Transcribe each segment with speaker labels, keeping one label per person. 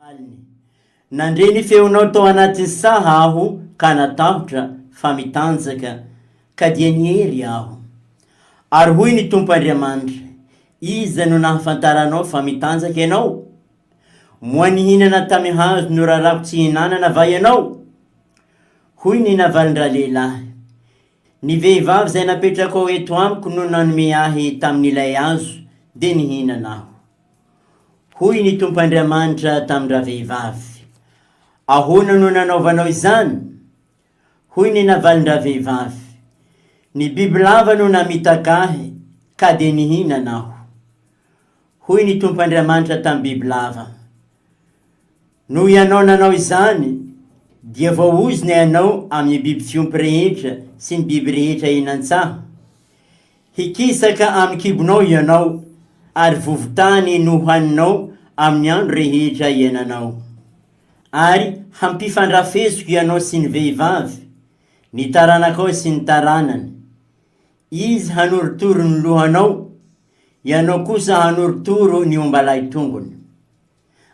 Speaker 1: Valiny, Nandre ny feonao tao anatin'ny saha aho ka natahotra fa mitanjaka ka dia niery aho. Ary hoy ny Tompo Andriamanitra, Iza no nahafantaranao fa mitanjaka ianao? Moa nihinana tamin'ny hazo norarako tsy hinanana va ianao? Hoy ny navalin-dralehilahy, Ny vehivavy izay napetrakao eto amiko no nanome ahy tamin'ilay hazo dia nihinana aho. Hoy ny Tompo Andriamanitra tamin-dravehivavy, Ahoana no nanaovanao izany? Hoy ny navalin-dravehivavy, Ny bibilava no namitaka ahy, ka dia nihinana aho. Hoy ny Tompo Andriamanitra tamin'ny bibilava, Noho ianao nanao izany, dia voaozona ianao amin'ny biby fiompy rehetra sy ny biby rehetra eny an-tsaha. Hikisaka amin'ny kibonao ianao, ary vovo-tany no hohaninao amin'ny andro rehetra iainanao. Ary hampifandrafesiko ianao sy ny vehivavy, ny taranakao sy ny taranany. Izy hanorotoro ny lohanao, Ianao kosa hanorotoro ny omba lahy tongony.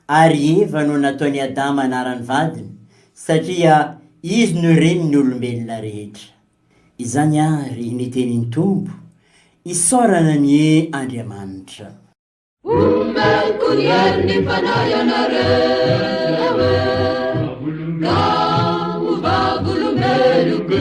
Speaker 1: Ary Eva no nataon'i Adama anaran'ny vadiny, satria izy no renin'ny olombelona rehetra. Izany àry ny tenin'ny Tompo, Isaorana anie Andriamanitra!
Speaker 2: Omeko ny herin'ny Fanahy ianareo e, ka ho vavolombeloko.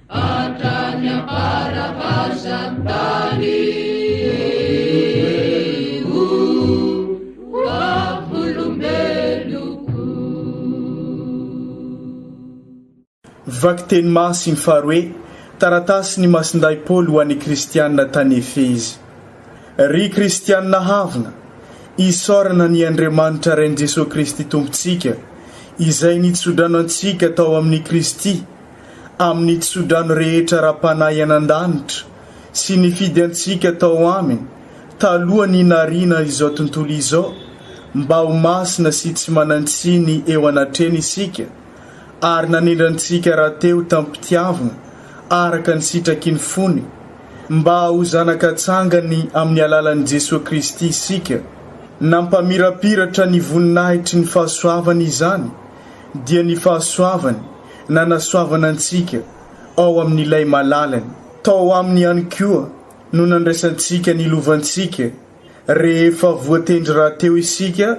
Speaker 2: Hatrany am-paravazan tany o
Speaker 3: vavolombeloko. Vakiteny Masiny faharoe, Taratasy ny Masindahy Paoly ho an'ny Kristianina tany Efezy. Ry Kristianina havana, isaorana ny Andriamanitra Rain'i Jesoa Kristy Tompontsika, Izay nitsodrano antsika tao amin'i Kristy amin'ny tsodrano rehetra ara-panahy any an-danitra sy nifidy antsika tao Aminy taloha ny nariana izao tontolo izao mba ho masina sy tsy manan-tsiny eo anatreny isika ary nanendry antsika rahateo tamim-pitiavna araka ny sitraky ny fony mba ho zanaka tsangany amin'ny alalan'i Jesoa Kristy isika. Nampamirapiratra ny voninahitry ny fahasoavany izany. dia ny fahasoavany nanasoavana antsika ao amin'ilay malalany. Tao aminy ihany koa no nandraisantsika ny lovantsika rehefa voatendry rahateo isika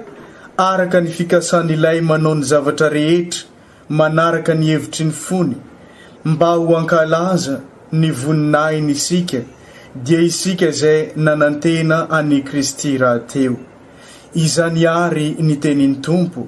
Speaker 3: araka ny fikasan'ilay manao ny zavatra rehetra manaraka ny hevitry ny fony mba ho hankalaza ny voninahiny isika dia isika izay nanantena an'i Kristy rahateo. Izany àry ny tenin'ny Tompo.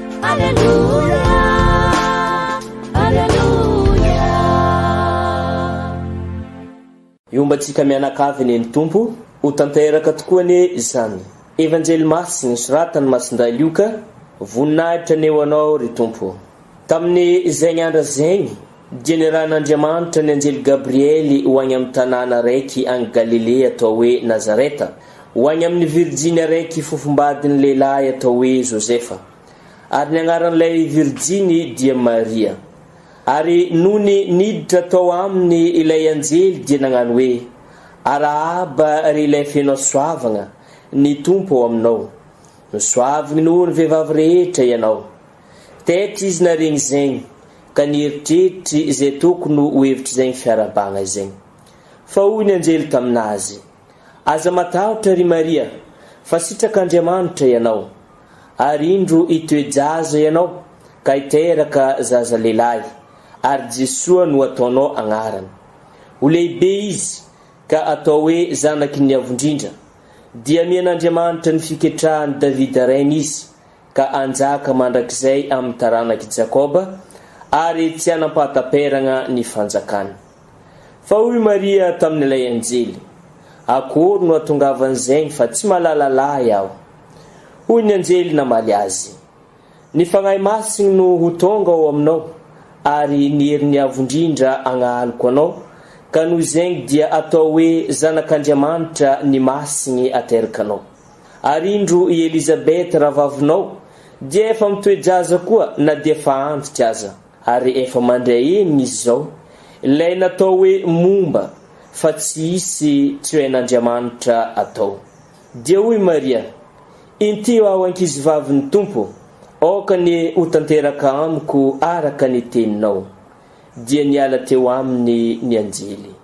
Speaker 4: Hiomba antsika mianakavy anie ny Tompo, ho tanteraka tokoa anie izany Evanjely Masy nosoratan'i Masindahy Lioka, Voninahitra anie ho Anao ry Tompo, tamin'ny zegny andra zegny. Dia nirahan'Andriamanitra ny anjely Gabriely ho any amin'ny tanàna raiky any Galilea atao hoe Nazareta, ho any amin'ny virijiny araiky fofombadin'ny lehilahy atao hoe Josefa. Ary ny agnaran'ilay virijiny dia Maria. Ary nony niditra tao aminy ilay anjely dia nagnano hoe, Arahaba ry ilay feno hasoavagna, ny Tompo ao aminao. Misoavigny noho ny vehivavy rehetra ianao. Taitra izy naharegny izegny ka nieritreritry izay tokony ho hevitr'izegny fiarabagna izegny. Fa hoy ny anjely taminazy, Aza matahotra ry Maria, fa sitrak'Andriamanitra ianao. Ary indro hitoe-jaza ianao ka hiteraka zaza lehilahy, ary Jesoa no hataonao agnarany. Ho lehibe izy ka hatao hoe zanaky ny Avo Indrindra. Dia amian'Andriamanitra ny fiketrahan'i Davida rainy izy, ka hanjaka mandrakizay amin'ny taranak'i Jakoba, ary tsy hanam-pahataperagna ny fanjakany. Fa hoy Maria tamin'ilay anjely, Akôry no hatongavan'izegny fa tsy malala lahy aho? Hoy ny anjely namaly azy, Ny Fagnahy Masigny no ho tônga ao aminao, ary ny herin'ny Avo Indrindra hagnahaloko anao, ka noho izegny dia atao hoe zanak'Andriamanitra ny Masigny aterakanao. Ary indro i Elizabeth rahavavinao dia efa mitoe-jaza koa na dia efa antitra aza, ary efa mandry ahiny izy izao, ilay natao hoe momba fa tsy hisy tsy ho hain'Andriamanitra atao. Dia hoy Maria, Intiho aho ankizivavin'ny Tompo, aoka anie ho tanteraka amiko araka ny teninao. Dia niala teo aminy ny anjely.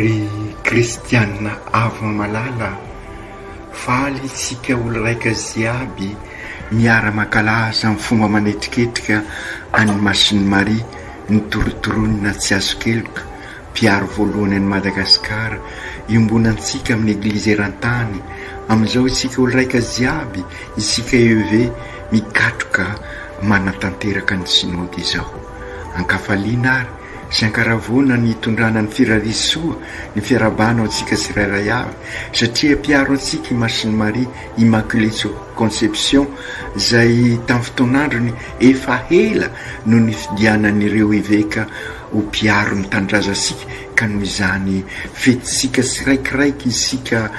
Speaker 5: Ry kristianina avo malala, faly isika olo-raika ziaby miara-mankalaza amin'ny fomba manetriketrika an'i Masin'i Maria nitorotoronina tsy azo keloka, mpiaro voalohany an'i Madagasikara, iombonantsika amin'ny Eglizy eran-tany, amin'izao isika olo-raika ziaby, isika EEV mikatroka manatanteraka ny Synode izao. Ankafaliana ary sy ankaravoana ny hitondrana ny firavis soa ny fiarahabana ho antsika tsirairay avy satria mpiaro antsika i Masin'i Maria Immaculée Conception izay tamin'ny fotoan'androny efa ela no nifidianan'ireo eveka ho mpiaro ny tanindrazantsika ka noho izany fetintsika tsiraikiraiky isika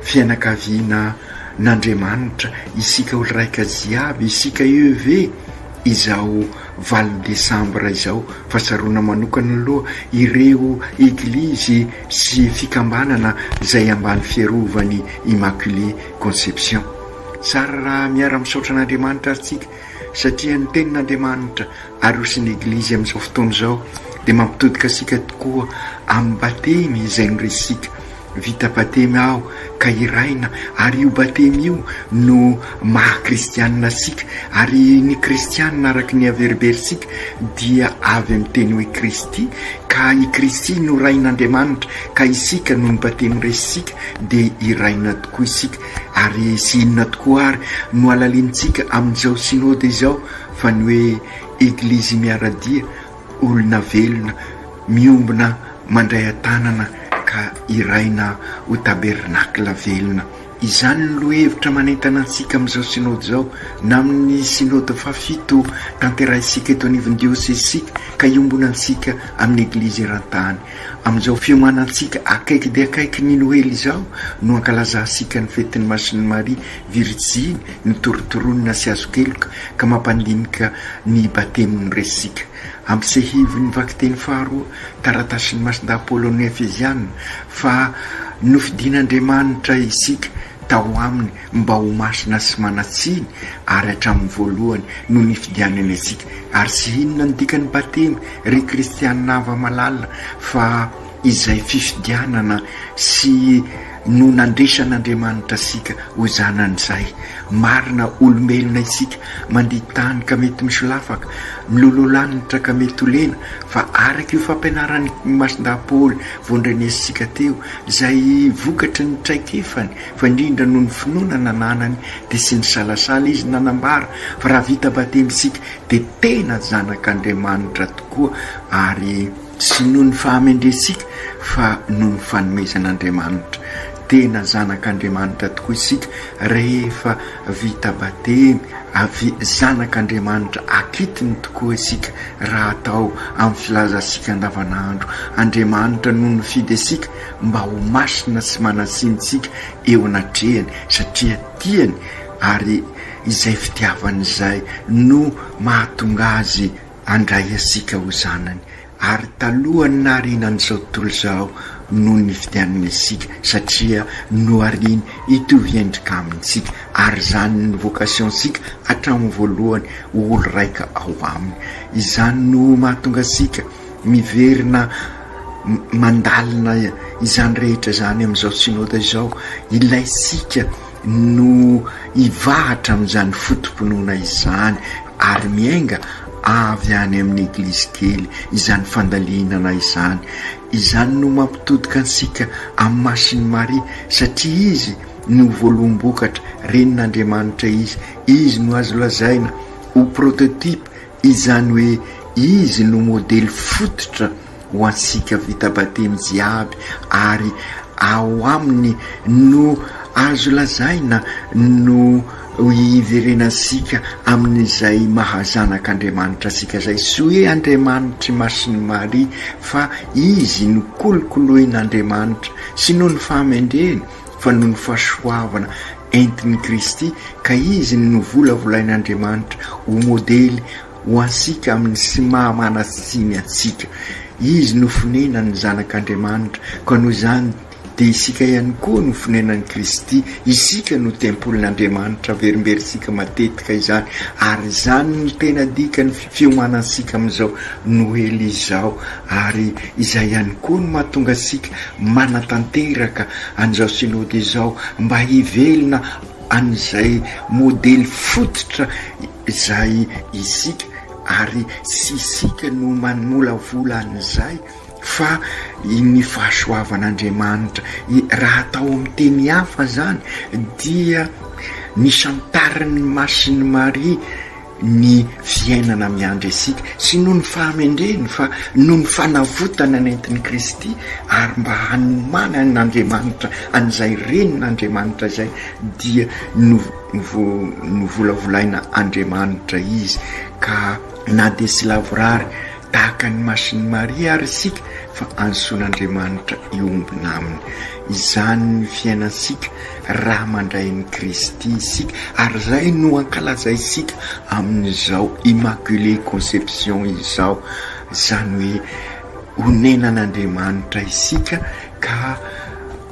Speaker 5: fianakaviana n'Andriamanitra isika olon-raika jiaby isika EEV izao valo desambra izao fa tsaroana manokana aloha ireo eglizy sy fikambanana izay ambany fiarovany Immaculée Conception. Tsara raha miara misaotra an'Andriamanitra ary tsika satria ny tenin'Andriamanitra aroson'ny eglizy amin'izao fotoana izao dia mampitodika asika tokoa amin'ny batemy izay noresika Vita batemy aho ka hiraina ary io batemy io no maha kristianina antsika ary ny kristianina araka ny averimberitsika dia avy amin'ny teny hoe Kristy ka i Kristy no Rain'Andriamanitra ka isika noho ny batemy resintsika dia hiraina tokoa isika ary sy inona tokoa ary no halalinintsika amin'izao synode izao fa ny hoe eglizy miara-dia Olona velona miombona mandray an-tanana ka hiraina ho tabernakla velona. Izany no lohahevitra manentana antsika amin'izao Synody izao na amin'ny Synody fahafito tanterahintsika eto anivon'ny diosezintsika ka iombonantsika amin'ny Eglizy eran-tany. Amin'izao fiomanantsika akaiky dia akaiky ny Noely izao no ankalazantsika ny fetin'i Masin'i Maria Virijiny, ny torontoronina sy hazon-keloka, ka mampandinika ny Batemy no resintsika. Ampy sehivin' ny vakiteny faharoa, taratasin' ny Masindahy Paoly ho an'ny Efeziana, fa nofidin' Andriamanitra isika tao aminy mba ho masina sy manan-tsiny, ary hatramin'ny voalohany no nifidianany antsika. Ary tsy inona ny dikan'ny Batemy, ry kristiana hava-malalina, fa izay fifidianana sy. no nandresan'Andriamanitra asika ho zanany izay. Marina olombelona isika, mandia tany ka mety misolafaka, miloloha lanitra ka mety ho lena, fa araka io fampianaran'i Masindahy Paoly voandrenesitsika teo, izay vokatry ny traikefany fa indrindra noho ny finoana nananany dia tsy nisalasala izy nanambara fa raha vita batemy isika dia tena zanak'Andriamanitra tokoa ary Tsy noho ny fahamendrentsika fa noho ny fanomezan'Andriamanitra. Tena zanak'Andriamanitra tokoa isika rehefa vita batemy, avy zanak'Andriamanitra akitony tokoa isika raha atao amin'ny filazantsika andavanandro. Andriamanitra no nifidy antsika mba ho masina sy manan-tsinontsika eo anatrehany satria tiany ary izay fitiavany izay no mahatonga azy Handray antsika ho zanany, ary talohan'ny nahariana an'izao tontolo izao no nividianana isika, satria nohariany hitovy endrika amintsika, ary izany no vocation-tsika hatramin'ny voalohany, ho olo-raika ao Aminy. Izany no mahatonga antsika miverina mandalina izany rehetra izany amin'izao Synoda izao, ilaintsika no hivahatra amin'izany foto-pinoana izany ary miainga avy any amin'ny eglizy kely izany fandalinana izany. Izany no mampitodika antsika amin'ny Masin'i Maria satria izy no voaloham-bokatra, renin'Andriamanitra izy, izy no azo lazaina ho prototype, izany hoe izy no modely fototra. ho antsika vita batemy jiaby ary ao aminy no azo lazaina no hiverenantsika amin'izay maha zanak'Andriamanitra antsika zay. Tsy hoe Andriamanitry Masin'i Maria fa izy no kolokoloin'Andriamanitra, tsy noho ny fahamendreny fa noho ny fahasoavana entin'i Kristy ka izy no novolavolain'Andriamanitra ho modely ho antsika amin'ny sy maha manan-tsiny antsika. Izy no fonenan'ny Zanak'Andriamanitra, ka noho izany dia isika ihany koa no fonenan'i Kristy, isika no tempolin'Andriamanitra, averimberintsika matetika izany, ary izany no tena dikan'ny fiomanantsika amin'izao Noely izao, ary izay ihany koa no mahatonga antsika manatanteraka an'izao Synody izao, mba hivelona an'izay modely fototra. Izay isika ary tsy isika no manolavola an'izay fa ny fahasoavan'Andriamanitra. Raha atao amin'ny teny hafa izany dia nisantarin'ny Masin'i Maria ny fiainana miandry antsika sy noho ny fahamendreny fa noho ny fanavotana nentin'i Kristy ary mba hanomanan'Andriamanitra an'izay Renin'Andriamanitra izay dia Novolavolaina Andriamanitra izy ka na dia tsy lavorary tahaka ny masin'i Maria ary isika fa antsoin'Andriamanitra hiombona aminy. Izany ny fiainantsika raha mandray ny Kristy isika ary izay no ankalazaintsika amin'izao Immaculée Conception izao, izany hoe onenan'Andriamanitra isika Ka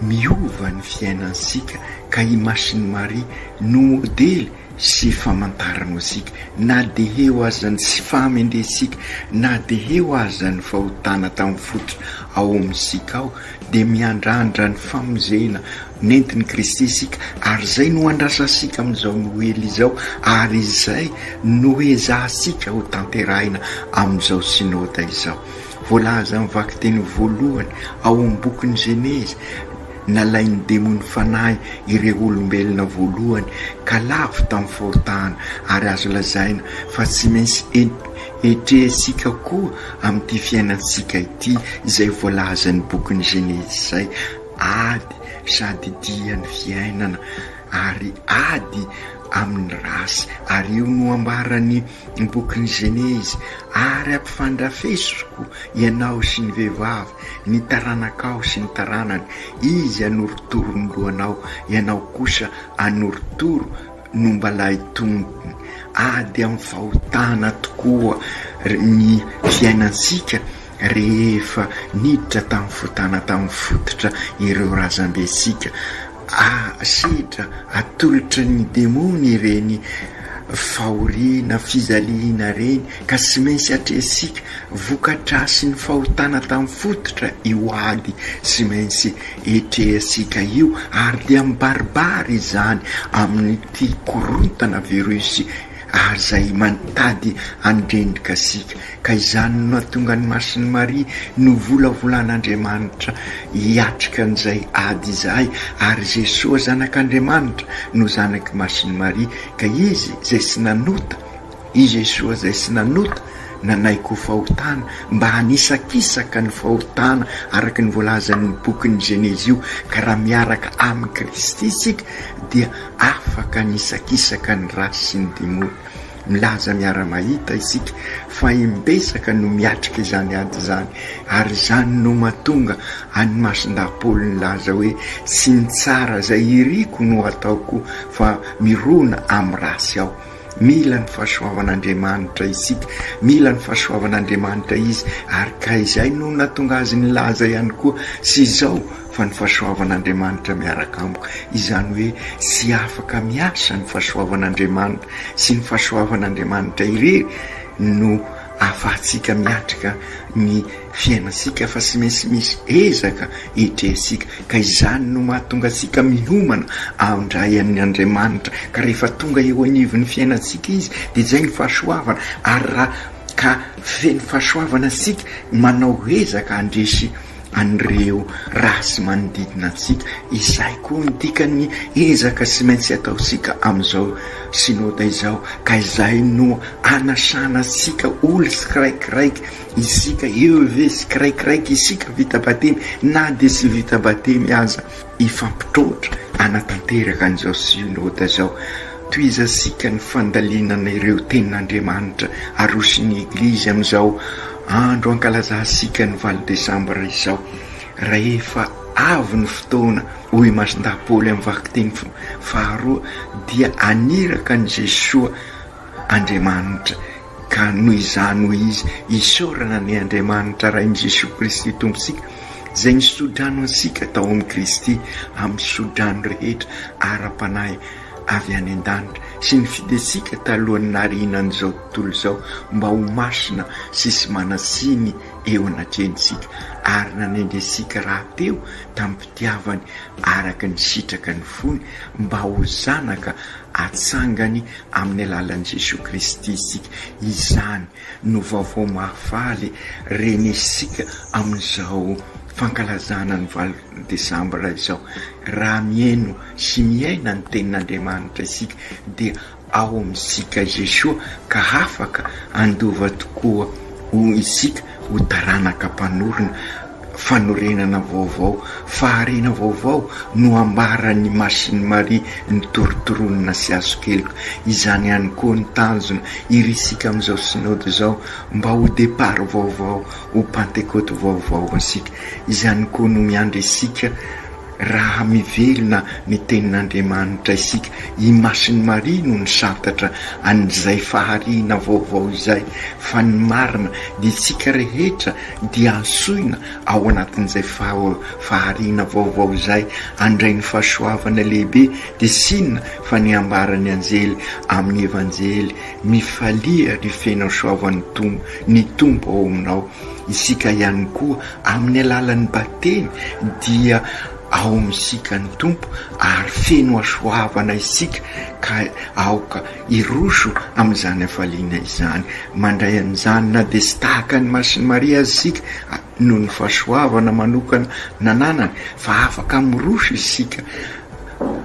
Speaker 5: miova ny fiainantsika ka i Masini Maria no modely sy famantaran'osika na de heo aza ny tsy fahamendretsika na de heo aza ny fahotana tamin'ny fototra ao amintsika ao de miandrandra ny famonjena nentin'i Kristy isika ary izay no andrasantsika amin'izao Noely izao ary izay no ezahantsika ho tanterahina amin'izao Synoda izao. Voalazan'ny vakiteny voalohany ao amin'ny bokin'ny Genezy, Nalain'ny demonin'ny fanahy ireo olombelona voalohany ka lavo tamin'ny fahotana, ary azo lazaina fa tsy maintsy hetrehintsika koa amin'ity fiainantsika ity izay voalazan'ny bokin'ny Genezy izay, Ady sady dia ny fiainana ary ady amin'ny race, ary io no ambaran'i. ny bokin'ny Genezy, ary ampifandrafesiko ianao sy ny vehivavy, ny taranakao sy ny taranany, izy hanorotoro ny lohanao, ianao kosa hanorotoro ny ombalahy tongony. Ady amin'ny fahotana tokoa ny fiainantsika rehefa niditra tamin'ny fotana tamin'ny fototra ireo razambentsika. Asedra atolotry ny demony ireny fahoriana, fijaliana ireny ka tsy maintsy atrehintsika. Vokadrasin'ny fahotana tamin'ny fototra io ady tsy maintsy etrehantsika io ary dia mibaribary izany amin'ity korontana virus ary izay mantady handrendrika sika, ka izany no nahatonga ny Masin'i Maria novolavolàn'Andriamanitra hiatrika an'izay ady izay, ary Jesoa Zanak'Andriamanitra no zanak'i Masin'i Maria, ka Izy izay tsy nanota, i Jesoa izay tsy nanota, nanaiky ho fahotana mba hanisakisaka ny fahotana araka ny voalazan'io bokin'ny Genesy io, ka raha miaraka amin'i Kristy isika dia Afaka ny hisakisaka ny ratsy sy ny demony. Milaza miara-mahita isika fa imbetsaka no miatrika izany ady izany, ary izany no mahatonga an'i Masindahy Paoly nilaza hoe, Tsy ny tsara izay iriko no ataoko, fa mirona amin'ny ratsy aho. Mila ny fahasoavan'Andriamanitra isika, mila ny fahasoavan'Andriamanitra izy, ary ka izay no nahatonga azy nilaza ihany koa sy izao fa ny fahasoavan'Andriamanitra miaraka amiko, izany hoe tsy afaka miasa ny fahasoavan'Andriamanitra sy ny fahasoavan'Andriamanitra irery no ahafahantsika miatrika ny fiainantsika fa tsy maintsy misy ezaka etrehintsika ka izany no mahatonga antsika miomana amin-dray amin' Andriamanitra ka rehefa tonga eo anivon'ny fiainantsika Izy dia izay ny fahasoavana ary raha ka feno fahasoavana isika manao ezaka handresy an'ireo race manodidina antsika, izay koa no dikan'ny ezaka tsy maintsy ataontsika amin'izao Synode izao, ka izay no anasana antsika ol tsikiraikiraiky isika, EEV, tsikiraikiraiky isika vita batemy na dia tsy vita batemy aza. Hifampitaotra hanatanteraka an'izao Synoda izao. Tohizantsika ny fandalinana ireo Tenin'Andriamanitra aroson'ny Eglizy amin'izao andro ankalazantsika ny valo desambra izao. Rahefa avy ny fotoana, hoy i Masindahy Paoly amin'ny vakiteny faharoa, dia haniraka an'i Jesoa Andriamanitra. Ka noho izany hoy izy, isaorana anie Andriamanitra Ray amin'i Jesoa Kristy Tompontsika, izay nisodrano antsika tao amin'i Kristy amin'ny sodrano rehetra ara-panahy avy any an-danitra, sy nifidy antsika talohan'ny naharianan'izao tontolo izao mba ho masina sy tsy manan-tsiny eo anatrehantsika, ary nanendry antsika rahateo tamim-pitiavany araka ny sitraky ny fony mba ho zanaka Atsangany amin'ny alalan'i Jesoa Kristy isika. Izany no vaovao mahafaly ren'isika amin'izao fankalazana ny valo desambra izao. Raha mihaino sy miaina ny Tenin'Andriamanitra isika dia ao amintsika Jesoa ka afaka handova tokoa isika ho taranaka mpanorina fanorenana vaovao, fahariana vaovao no ambaran'i Machine Marie ny torotoroninà sy hazokeloka. Izany ihany koa ny tanjona irisika amin'izao Synode izao, mba ho départ vaovao, ho Pantekoty vaovao ho antsika. Izany koa no miandry antsika. Raha mivelona ny Tenin'Andriamanitra isika, imason'i Maria no nisantatra an'izay fahariana vaovao izay, fa ny marina dia isika rehetra dia antsoina ao anatin'izay fahariana vaovao izay, handray ny fahasoavana lehibe, dia tsy inona fa ny ambaran'ny anjely amin'ny Evanjely, Mifalia ry feno soavan'ny Tompo, ny Tompo ao aminao. Isika ihany koa, amin'ny alalan'ny Batemy, dia ao amintsika ny Tompo, ary feno hasoavana isika, ka aoka hiroso amin'izany hafaliana izany. Mandray an'izany, na dia tsy tahaka an'i Masin'i Maria aza isika, noho ny fahasoavana manokana nananany, fa afaka miroso isika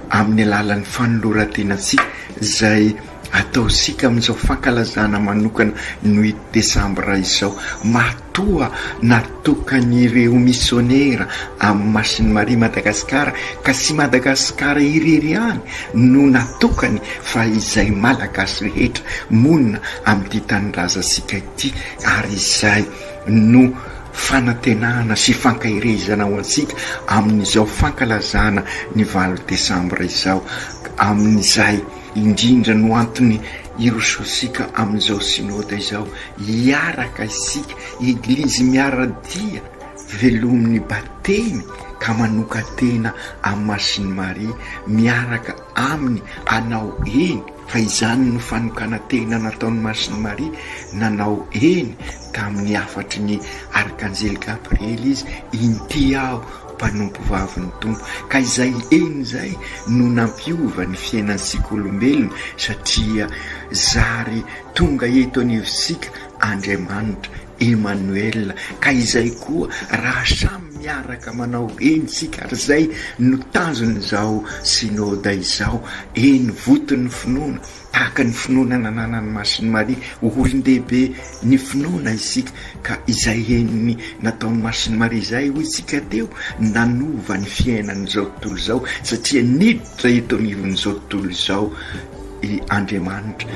Speaker 5: amin'ny alalan'ny fanoloran-tenantsika, izay. Ataontsika amin'izao fankalazana manokana ny desambra izao matoa natokan'ireo misionera amin'ny masin'i Maria Madagasikara ka tsy Madagasikara irery ihany no natokany fa izay Malagasy rehetra monina amin'ity tanindrazantsika ity ary izay no fanantenana sy fankaherezana ho antsika amin'izao fankalazana ny valo desambra izao amin'izay Indrindra no antony irosoantsika amin'izao Synode izao, hiaraka isika Eglizy miara-dia velomin'ny Batemy ka manokan-tena amin'ny Masin'i Maria miaraka Aminy hanao eny, fa izany no fanokanan-tena nataon'i Masin'i Maria, nanao eny tamin'ny hafatry ny Arkanjely Gabriely Izy, Inty aho mpanompovavin'ny Tompo, ka izay heny izay no nampiova ny fiainantsika olombelona, satria zary tonga eto anivontsika Andriamanitra, Emanoela, ka izay koa raha samy miaraka manao heny isika ary izay no tanjon'izao Synoda izao, heny voton'ny finoana, Tahaka ny finoana nananan'ny Masin'i Maria ho olon-dehibe ny finoana isika, ka izay henony nataon'i Masin'i Maria izay, hoy isika teo, nanova ny fiainan'izao tontolo izao, satria niditra eto anivon'izao tontolo izao i Andriamanitra,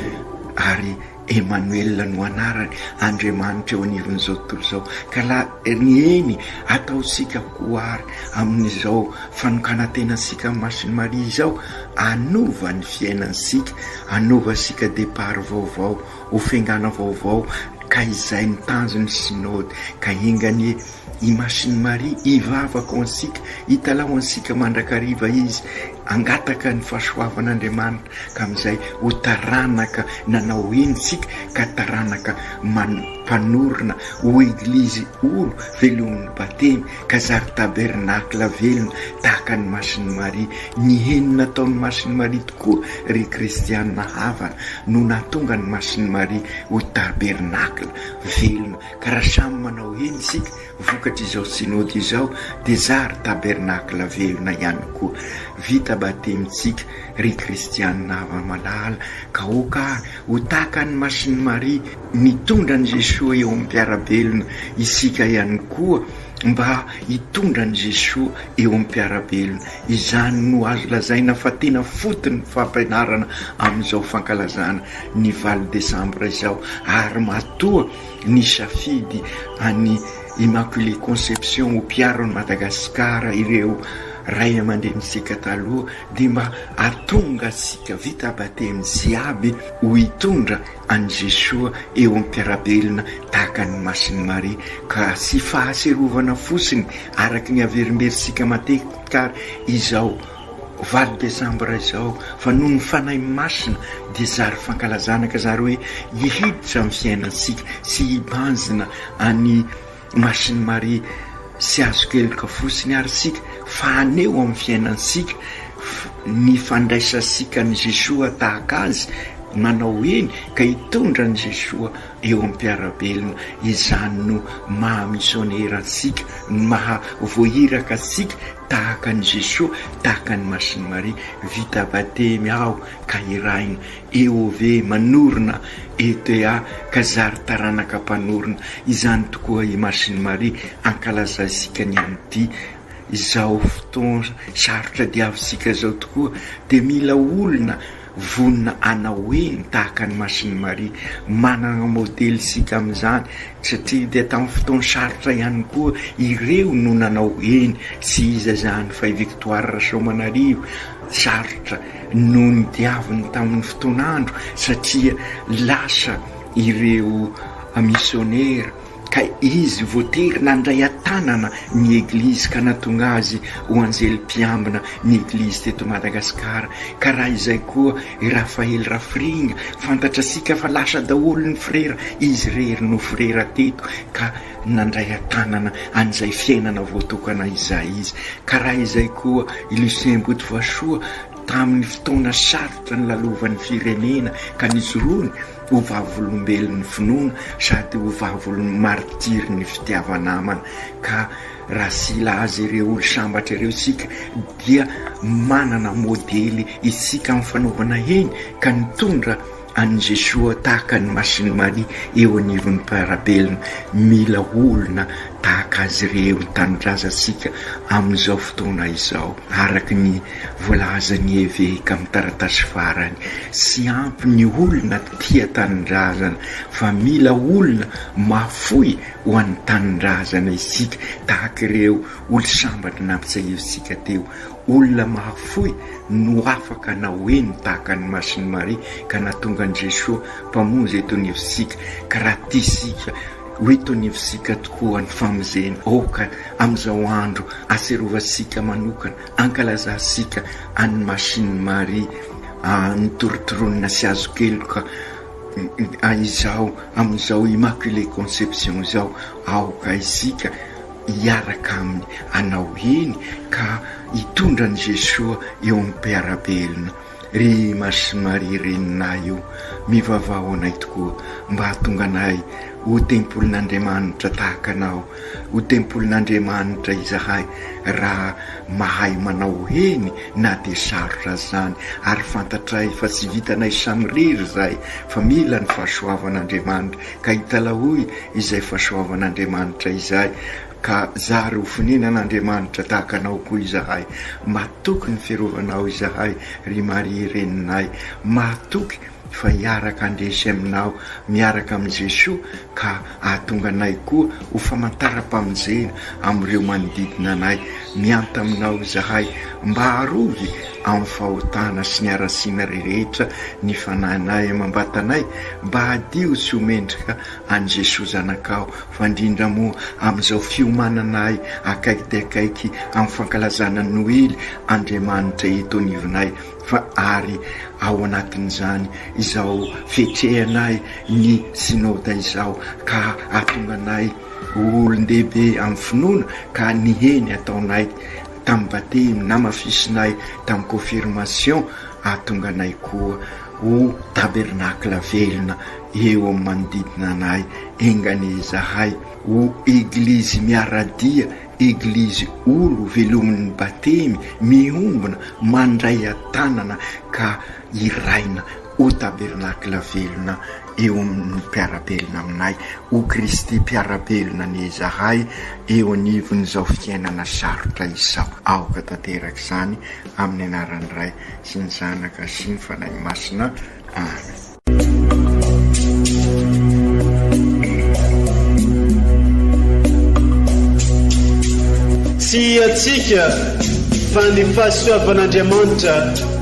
Speaker 5: ary Emanoela no anarany, Andriamanitra eo anivon'izao tontolo izao, ka la eny, ataontsika ho ary amin'izao fanokanan-tenantsika amin'ny Masin'i Maria izao, Hanova ny fiainantsika, hanova antsika départ vaovao, ho fiangana vaovao ka izay ny tanjon'ny Synode ka enga anie i Masiny Maria hivavaka ho antsika, hitalaho antsika mandrakariva izy, hangataka ny fahasoavan'Andriamanitra ka amin'izay ho taranaka nanao heny isika ka taranaka man-panorina ho Eglizy olo velomin'ny Batemy. Ka zary tabernakla velona tahaka an'i Masin'i Maria, ny heny nataon'i Masin'i Maria tokoa, ry kristiana havana, no nahatonga an'i Masin'i Maria ho tabernakla velona. Ka raha samy manao heny isika vokatr'izao Synody izao dia zary tabernakla velona ihany koa. Vita batemintsika, ry kristiana hava-malala, ka aoka ary Ho tahaka an'i Masin'i Maria, mitondra an'i Jesoa eo amin'ny mpiara-belona isika ihany koa mba hitondra an'i Jesoa eo amin'ny mpiara-belona. Izany no azo lazaina fa tena foton'ny fampianarana amin'izao fankalazana ny valo desambra izao ary matoa nisafidy an'i Immaculée Conception ho mpiaro an'i Madagasikara ireo Ray aman-drenintsika taloha, dia mba hahatonga antsika vita batemy jiaby ho hitondra an'i Jesoa eo am-piarabelona tahaka an'i Masiny Maria ka tsy fahatsiarovana fotsiny araka ny averimberitsika matetika ary izao valo desambra izao fa noho ny Fanahy Masina dia zary fankalazana ka zary hoe hihiditra amin'ny fiainantsika sy hibanjina any Machine Marie sy azoko heloka fotsiny ary isika fa haneho amin'ny fiainantsika ny fandraisantsika an'i Jesoa tahaka Azy nanao eny ka hitondra an'i Jesoa eo amin'ny mpiara-belona. Izany no maha misionera antsika, ny maha voahiraka antsika tahaka an'i Jesoa, tahaka an'i Machine Marie. Vita batemy aho ka hirahina EOV manorina ETA ka zary taranaka mpanorina izany tokoa i Masini Maria ankalazaisika ny an'ity izao fotoana sarotra diavisika izao tokoa dia mila olona vonona hanao eny tahaka an'i Masini Maria manana modely isika amin'izany satria dia tamin'ny fotoana sarotra ihany koa ireo no nanao eny tsy iza izany fa i Victoire Rasoamanarivo sarotra no nodiaviny tamin'ny fotoan'andro satria lasa ireo misionera ka izy voatery nandray an-tanana ny Eglizy ka nahatonga azy ho anjely mpiambina ny Eglizy teto Madagasikara ka raha izay koa i Raphaël Rafiringa, fantatrasika fa lasa daholo ny frera, izy irery no frera teto ka. Nandray an-tanana an'izay fiainana voatokana izay izy, ka raha izay koa i Lucien Botovasoa tamin'ny fotoana sarotra nilalovan'ny firenena ka nijoroany ho vavolombelon'ny finoana sady ho vavolon'ny maritirin'ny fitiava-namana. Ka raha sila azy ireo olo-sambatra ireo isika dia manana modely isika amin'ny fanaovana heny ka nitondra an'i Jesoa tahaka an'i Masin'i Maria eo anivon'ny mpiara-belona. Mila olona tahaka azy ireo ny tanindrazantsika amin'izao fotoana izao, araka ny voalazan'ny eveka amin'ny taratasy farany. Tsy ampy ny olona tia tanindrazana fa mila olona mahafoy ho an'ny tanindrazana isika, tahaka ireo olo-sambatry nampitsiahivintsika teo. Olona mahafoy no afaka nanao eny tahaka an'i Masin'i Maria ka nahatonga an'i Jesoa Mpamonjy eto anivontsika ka raha tia isika ho eto anivontsika tokoa ny famonjena aoka amin'izao andro aserovantsika manokana ankalazantsika an'i Masin'i Maria nitorontoronina sy azo keloka izao amin'izao Immaculée Conception izao aoka isika hiaraka aminy anao eny ka hitondra an'i Jesoa eo amin'ny mpiara-belona. Ry Mars sy Maria reninay io, mivavaha ho anay tokoa mba hahatonga anay ho tempolin'Andriamanitra tahaka anao. Ho tempolin'Andriamanitra izahay raha mahay manao eny na dia sarotra aza izany ary fantatray fa tsy vitanay samirery izay fa mila ny fahasoavan'Andriamanitra ka italahoy izay fahasoavan'Andriamanitra izay, ka zary ho fonenan'Andriamanitra tahaka anao koa izahay. Matoky ny firovanao izahay, ry Maria Reninay. Mahatoky fa hiaraka handresy aminao miaraka amin'i Jesoa ka hahatonga anay koa ho famantaram-pamonjena amin'ireo manodidina anay. Miantà aminao izahay mba harovy amin'ny fahotana sy ny harasiana rehetra ny fanahinahy amam-batanay mba hadio sy ho mendrika an'i Jesoa Zanakao fa indrindra moa amin'izao fiomanana ahy akaiky dia akaiky amin'ny fankalazana ny Noely Andriamanitra eto anivonay fa ary ao anatin'izany izao fietrehanay ny Synoda izao ka hahatonga anay ho olon-dehibe amin'ny finoana ka ny heny ataonay tam bate im namafisinay tam confirmation ahatonga anay koa ho tabernacle velona eo am manodidina anay enganie izahay ho eglizy miaradia eglizy olo velomin ny batemy miombona mandray atanana ka iraina Ho tabernakla velona eo amin'ny mpiara-belona aminay, ho Kristy mpiara-belona anie izahay eo anivon'izao fiainana sarotra izao. Aoka tanteraka izany amin'ny anaran'ny Ray sy ny Zanaka sy ny Fanahy Masina. Amen.
Speaker 6: Tsy hiatsika fa ny fahasoavan'Andriamanitra.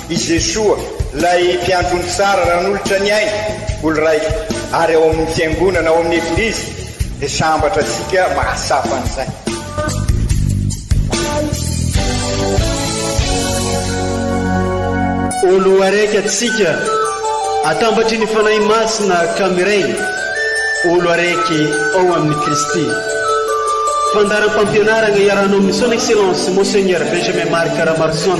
Speaker 7: I Jesoa, ilay Mpiandry ony tsara nanolotra ny ainy ho lraiko, ary ao amin'ny Fiangonana, ao amin'ny Eglizy, dia sambatra antsika mahatsapa an'izay.
Speaker 6: Olo araiky atsika, atambatry ny Fanahy Masina ka miray, olo araiky ao amin'i Kristy. Fandaharam-pampianaragna iarahanao amin'ny Son Excellence Monseigneur Benjamin Marc Ramarison.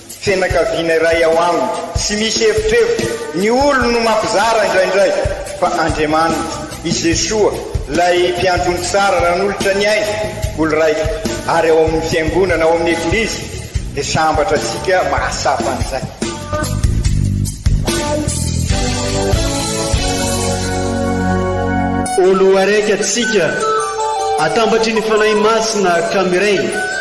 Speaker 7: Fianakaviana iray ao aminy. Tsy misy evitrevitra, ny olony no mampizara indraindray, fa Andriamaniny, i Jesoa, ilay Mpiandrony tsara nanolotra ny ainy ho lraiko, ary ao amin'ny Fiangonana, ao amin'ny Eglizy, dia sambatra antsika mahatsapa an'izay.
Speaker 6: Olo araiky atsika, atambatry ny Fanahy Masina ka miray.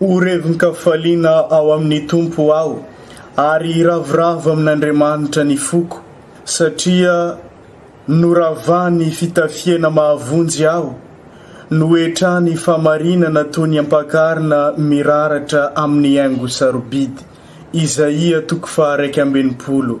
Speaker 3: Ho revin-kafaliana ao amin'ny Tompo aho, ary hiravoravo amin'Andriamanitra ny foko, satria noravany fitafiana mahavonjy aho, noetrany fahamarinana toy ny ampakarina miraratra amin'ny haingo sarobidy. Izaia toko faha iraika ambin'ny folo.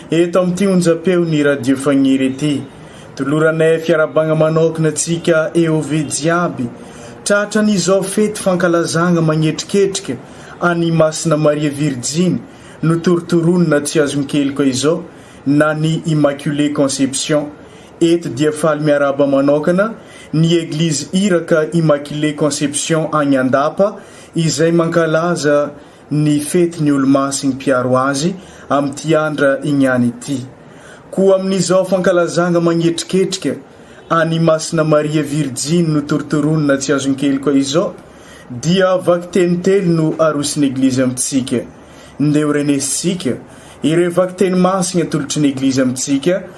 Speaker 3: Eto amin'ity onjam-peon'ny Radio Fagniry ity, toloranay fiarahabagna manokana antsika EOV jiaby, tratran'izao fety fankalazagna magnetriketrika an'i Masina Maria Virjiny notorotoroina tsy azon-keloka izao na ny Immaculée Conception. Eto dia faly miarahaba manokana ny Eglizy Iraka Immaculée Conception agny Andapa izay mankalaza ny fety ny olomasin' ny mpiaro azy amin' ity andra igny any ity. Koa amin' izao fankalazagna magnetriketrika an' i Masina Maria Virjiny notorotoroina tsy azon-keloka izao, dia vakiteny telo no aroson' Eglizy amin-tsika. Ndeha ho renesintsika ireo vakiteny masigny atolotry ny Eglizy amin-tsika.